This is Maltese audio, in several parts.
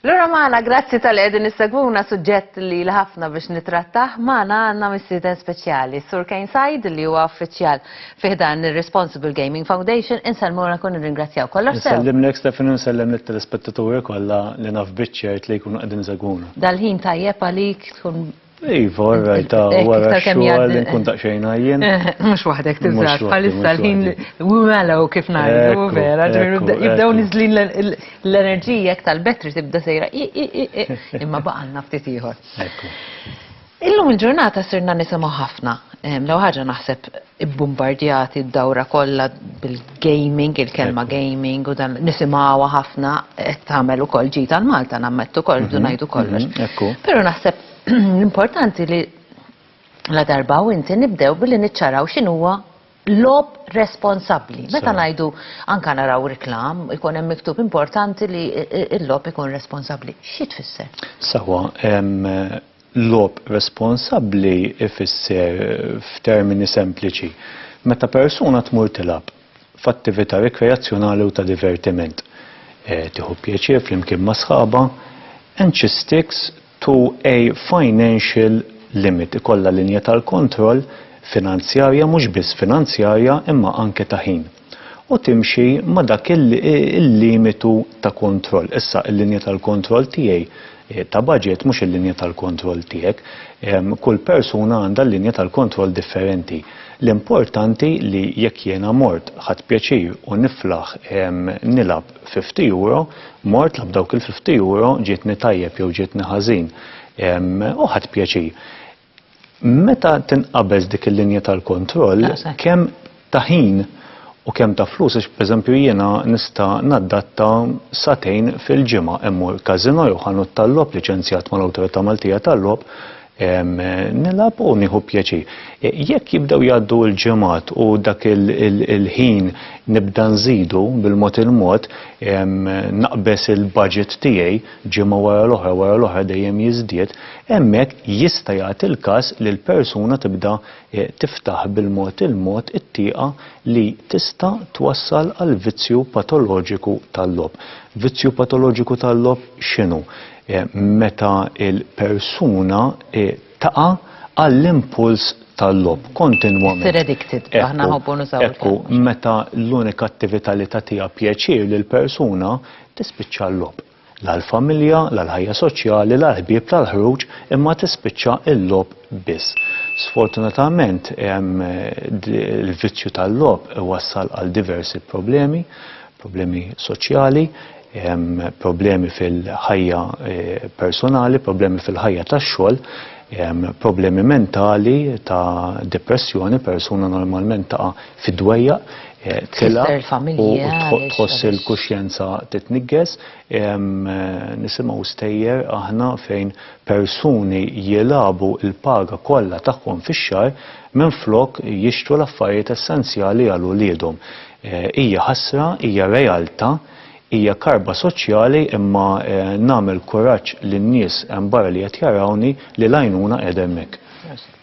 Lora maħna, grazzi tal-edin nissegwuna suġġett li l-ħafna biex nitrattaħ, maħna għanna missiden speċjali. Sur Kane Sajd li huwa uffiċjal fiħdan il-Responsible Gaming Foundation, insellmuna kun ringrazzjaw kollox. Nsellim l-ek Stefan, nsellem l-telespettaturi kolla li naf bitċert li jkunu għedin segwuna. Dal-ħin tajjeb għalik tkun Iva, all right, ah, eh, wara xogħol nkun daqsxejn għajjen. Eh, mhux waħdek tiżgħar bħalissa l-ħin wimelaw kif ngħidu vera, jibdew niżlin l-enerġija jekk tal-betri tibda sejra imma baqalna ftit ieħor. Illum il-ġurnata sirna nisimgħu ħafna, eh, l ħaġa naħseb ibbumbardjati d-dawra kollha bil-gaming, il-kelma gaming u dan nisimgħuha ħafna qed tagħmel ukoll ġid għal Malta nammettu wkoll rridu ngħidu kollox. Però naħseb l-importanti li la darba u inti nibdew billi niċċaraw x'inhuwa lob responsabbli. Meta ngħidu anka naraw reklam, ikun hemm miktub importanti li l-lob ikun responsabbli. Xi tfisser? Sewwa, Logħob responsabbli jfisser, f'termini sempliċi, meta persuna tmur tilgħab f'attività rikreazzjonali u ta' divertiment, tieħu pjaċir flimkien ma' sħabha, and she sticks to a financial limit, ikollha linja tal-kontroll finanzjarja, mhux biss finanzjarja, imma anke ta' ħin. u timxi ma' dak il-limitu ta' kontroll. Issa, il-linja tal-kontroll tiegħi ta' baġit mhux il-linja tal-kontroll tiegħek. Kull persuna għandha linja tal-kontroll differenti. L-importanti li jekk jiena mort, ħadt pjaċir u niflaħ nilgħab fifty euro, mort, labt dawk il-fifty euro, ġietni tajjeb jew ġietni ħażin u ħadt pjaċir. Meta tinqabeż dik il-linja tal-kontroll, kemm ta' ħin u kemm ta' flus, għax pereżempju jiena nista' naddatta sagħtejn fil-ġimgħa immur każinò jew ħanut tal-logħob liċenzjat mal-Awtorità Maltija tal-Logħob, nilgħab u nieħu pjaċir. Jekk jibdew jgħaddu l-ġimgħat u dak il-ħin nibda nżidu bil-mod il-mod, naqbeż il-budget tiegħi, ġimgħa wara l-oħra wara l-oħra dejjem jiżdied, hemmhekk jista' jagħti l-każ li l-persuna tibda tiftaħ bil-mod il-mod it-tieqa li tista' twassal għal vizzju patoloġiku tal-logħob. Vizzju patoloġiku tal-logħob x'inhu? Meta l-persuna taqa' għall-impuls tal-logħob kontinwament. Issir addicted, aħna nħobbu nużaw il-kelma. Ekku, meta l-unika attività li tagħtiha pjaċir lill-persuna Tispiċċa l-logħob. La l-familja, la l-ħajja soċjali, la l-ħbieb, la l-ħruġ, imma tispiċċa l-logħob biss. Sfortunatament il-vizzju tal-logħob iwassal għal diversi problemi, problemi soċjali, problemi fil-ħajja eh, personali, problemi fil-ħajja tax-xogħol, problemi mentali ta' depressjoni, persuna normalment ta' fid-dwejja, tela u tħoss il-kuxjenza titniggez, nisimaw stejjer aħna fejn persuni jilabu il-paga kollha tagħhom fix-xahar minflok jixtru l-affarijiet essenzjali għal uliedhom. Hija ħasra, hija realta, hija karba soċjali imma nagħmel kuraġġ lin-nies hemm barra li qed jarawni li l-għajnuna qiegħda hemmhekk.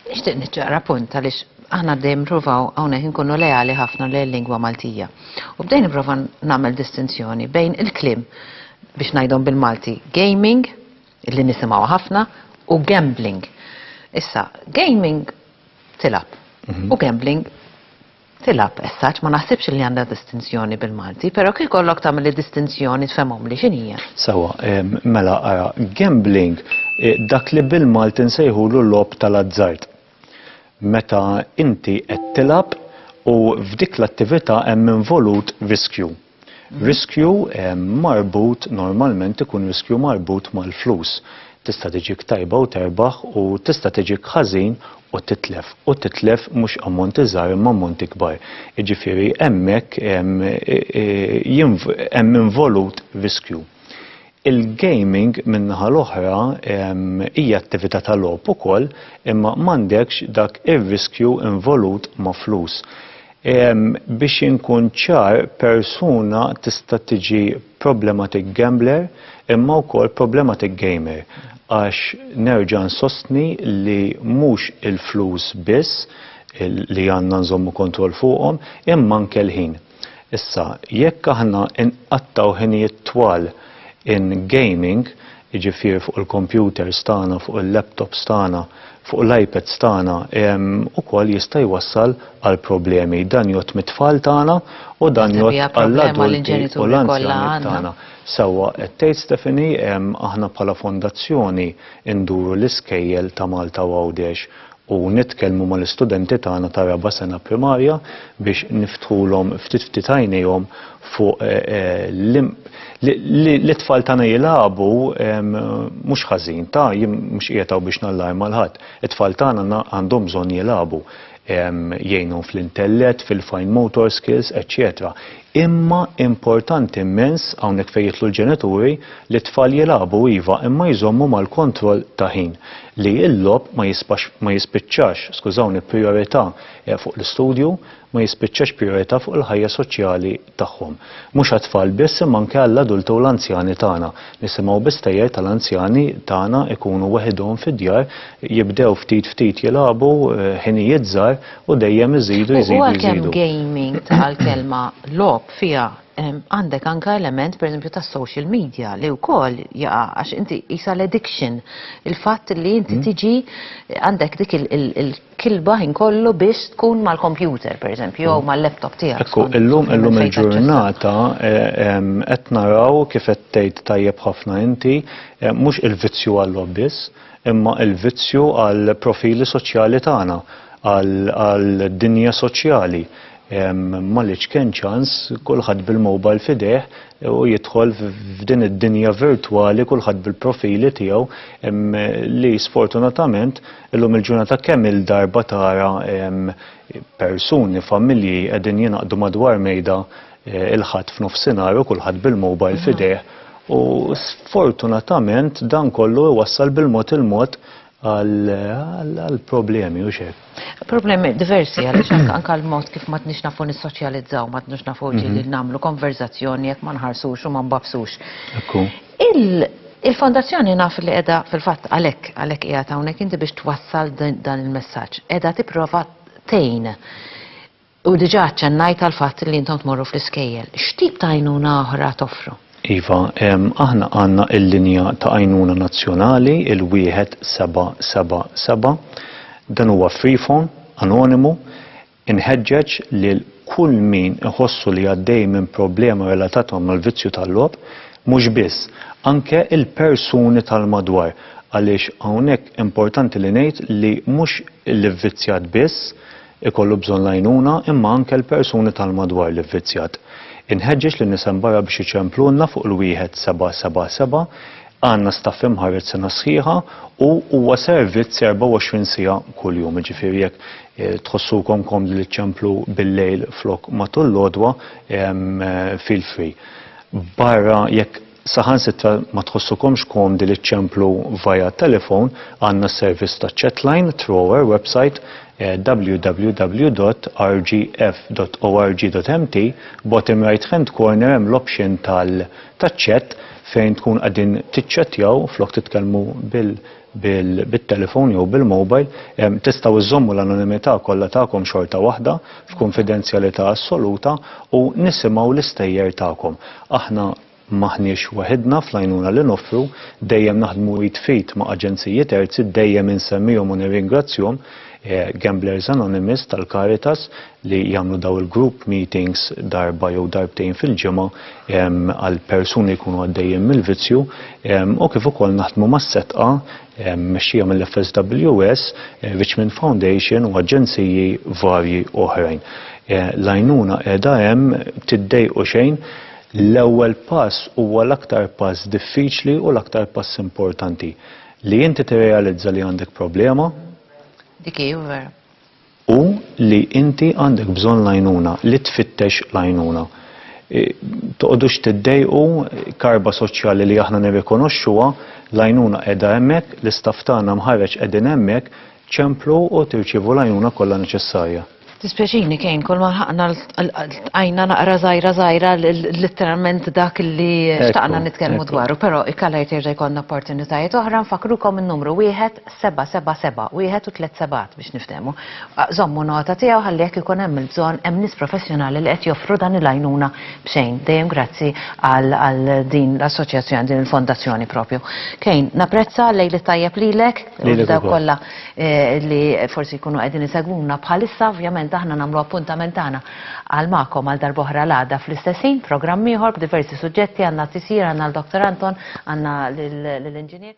Nixtieq niċċaqra punt għaliex aħna dejjem nippruvaw hawnhekk inkunu leali ħafna lil-lingwa Maltija. U bdejt nipprova nagħmel distinzjoni bejn il-kliem, biex ngħidhom bil-Malti, gaming, li nisimgħuha ħafna, u gambling. Issa, gaming tilgħab u gambling Tilab, as such, ma naħsibx li għandha distinzjoni bil-Malti, però kieku jkollok tagħmel id-distinzjoni tfehmhomli x'inhi hija. Sewwa, mela ara, gambling, dak li bil-Malti nsejħulu logħob tal-azzard. Meta inti qed tilab u f'dik l-attività hemm involut riskju. Riskju marbut normalment ikun riskju marbut mal-flus. Tista' tiġik tajba u terbaħ u tista' tiġik ħażin u titlef. U titlef mhux ammonti żgħar imma ammonti kbar. Jiġifieri hemmhekk hemm involut riskju. Il-gaming min-naħa l-oħra hija attività ta' logħob ukoll imma m'għandekx dak ir-riskju involut ma' flus. Biex inkun ċar persuna tista' tiġi problematic gambler imma wkoll problematic gamer għax nerġa' nsostni li mhux il-flus biss li għandna nżommu kontroll fuqhom imma anke l-ħin. Issa, jekk aħna nqattgħu ħinijiet twal in gaming, jiġifieri fuq il-kompjuters tagħna, fuq il-laptops tagħna, fuq l-iPads tagħna, ukoll jista' jwassal għal problemi. Dan jgħodd mit-tfal tagħna u dan jgħodd għall-adulti u l-anzjani tagħna. Sewwa qed tgħid Stephanie, aħna bħala fondazzjoni nduru l-iskejjel ta' Malta u Għawdex u nitkellmu mal-istudenti tagħna ta' raba' sena primarja biex niftħulhom ftit ftit għajnejhom fuq li t-tfal tagħna jilagħbu mhux ħażin ta' jien mhux qiegħed hawn biex nallarma 'l ħadd. It-tfal tagħna għandhom bżonn jilagħbu. Jgħinhom fl-intellett, fil-fine motor skills, eċċetera. Imma importanti immens, hawnhekk fejn jidħlu l-ġenituri, li t-tfal jilagħbu iva imma jżommu mal-kontroll ta' ħin. Li l-logħob ma jisbax ma jispiċċax, skużawni, prijorità fuq l-istudju, ma jispiċċax prijorità fuq il-ħajja soċjali tagħhom. Mhux għat-tfal biss imma anke għall-adulti u l-anzjani tagħna. Nisimgħu bistejjer tal-anzjani tagħna jkunu weħidhom fid-djar, jibdew ftit ftit jilagħbu, ħinijiet żgħar, u dejjem iżidu jżidu. U għalkemm gaming tal-kelma lob fiha għandek anka element per esempio ta' social media li wkoll jaqa' għax inti isa l-addiction il-fatt li inti hmm. tiġi għandek dik il-kilba ħin kollu biex tkun mal-kompjuter per esempio jew hmm. mal-laptop tiegħek. Ekku, illum illum il-ġurnata eh, qed naraw kif qed tgħid tajjeb ħafna inti eh, mhux il-vizzju għall-lobbis imma l-vizzju għall-profili soċjali tagħna, għad-dinja soċjali. Ma li ċken ċans, kulħadd bil-mobile f'idejh u jidħol f'din id-dinja virtwali kulħadd bil-profili tiegħu li sfortunatament illum il-ġurnata kemm-il darba tara persuni, familji qegħdin jingħaqdu madwar mejda il-Ħadd f'nofsinhar u kulħadd bil-mobile f'idejh u sfortunatament dan kollu iwassal bil-mod il-mod għal problemi u xek. Problemi diversi għaliex anka l-mod kif ma tnix nafu nissoċjalizzaw, ma tnix nafu mhm. ġili nagħmlu konverzazzjoni jekk ma nħarsux u ma nbabsux. Il-fondazzjoni naf li qiegħda fil-fatt għalhekk għalhekk qiegħed hawnhekk inti biex twassal dan il-messaġġ. Qiegħda tipprova tejn U diġà aċċennajt għall-fatt li intom tmorru fl-iskejjel. X'tip ta' għajnuna oħra toffru? Iva, aħna għandna l-linja ta' għajnuna nazzjonali, il-1777. Dan huwa free phone, anonimu. Inħeġġeġ lil kull min iħossu li għaddej minn problema relatata mal-vizzju tal-logħob, mhux biss, anke l-persuni tal-madwar, għaliex hawnhekk importanti li ngħid li mhux l-ivvizzjat biss, ikollu bżonn l-għajnuna imma anke l-persuni tal-madwar li vvizzjat. Inħeġġeġ lin-nisa mbarra biex iċemplulna fuq l-1777, għandna staff imħarred sena sħiħa u huwa servizz 24 siegħa kuljum, jiġifieri jekk tħossukom komdi li ċċemplu bil-lejl flok matul l-għodwa, feel free. Barra jekk. Saħansitra ma tħossukomx komdi li ċċemplu via telefon, għandna s-servizz ta' chatline through our website eh, www.rgf.org.mt, bottom right hand corner hemm l-option tal-chat fejn tkun qegħdin tiċċettjaw flok titkellmu bil bit-telefon jew bil-mobile, tistgħu żżommu l-anonimità kollha tagħkom xorta waħda, f'kunfidenzjalità assoluta, u nisimgħu l-istejjer tagħkom. Aħna m'aħniex waħidna fl-għajnuna li noffru, dejjem naħdmu id f'id ma' aġenziji terzi, dejjem insemmihom u nirringrazzjhom, Gamblers Anonymous tal-Caritas, li jagħmlu daw il-group meetings darba jew darbtejn fil-ġimgħa għal persuni li jkunu għaddejjin mill-vizzju u kif ukoll naħdmu mas-setqa mexxija mill-FSWS, Richmond Foundation u aġenziji varji oħrajn. Eh, l-għajnuna qiegħda hemm tiddejqu xejn l-ewwel pass huwa l-aktar pass diffiċli u l-aktar pass importanti li inti tirrealizza li għandek problema. Dik hi vera. u li inti għandek bżonn l-għajnuna, li tfittex l-għajnuna. Toqgħodux tiddejqu, karba soċjali li aħna nirrikonoxxuha, l-għajnuna qiegħda hemmhekk, l-istaff tagħna mħarreġ qegħdin hemmhekk, ċemplu u tirċievu l-għajnuna kollha neċessarja. Dispjaċini Kane, kulma lħaqna ltqajna naqra żgħira żgħira litteralment dak li xtaqna nitkellmu dwaru, però ikkalajt jerġa' jkollna opportunitajiet oħra nfakkrukom in-numru wieħed seba' seba' seba' wieħed u tliet sebgħat biex niftehmu. Żommu nota tiegħu ħalli jekk ikun hemm il-bżonn hemm nies professjonali li qed joffru dan il-għajnuna b'xejn. Dejjem grazzi għal għal din l-assoċjazzjoni, din il-fondazzjoni propju. Kane, napprezza, lejl it-tajjeb lilek u lil dawk kollha li forsi jkunu qegħdin isegwuna bħalissa, ovvjament aħna nagħmlu appuntament tagħna għal magħkom għal darb'oħra l-għada fl-istess ħin, programm ieħor b'diversi suġġetti, għandna t-tisjir, għandna l-Dr. Anton, għandna lill-Inġinier.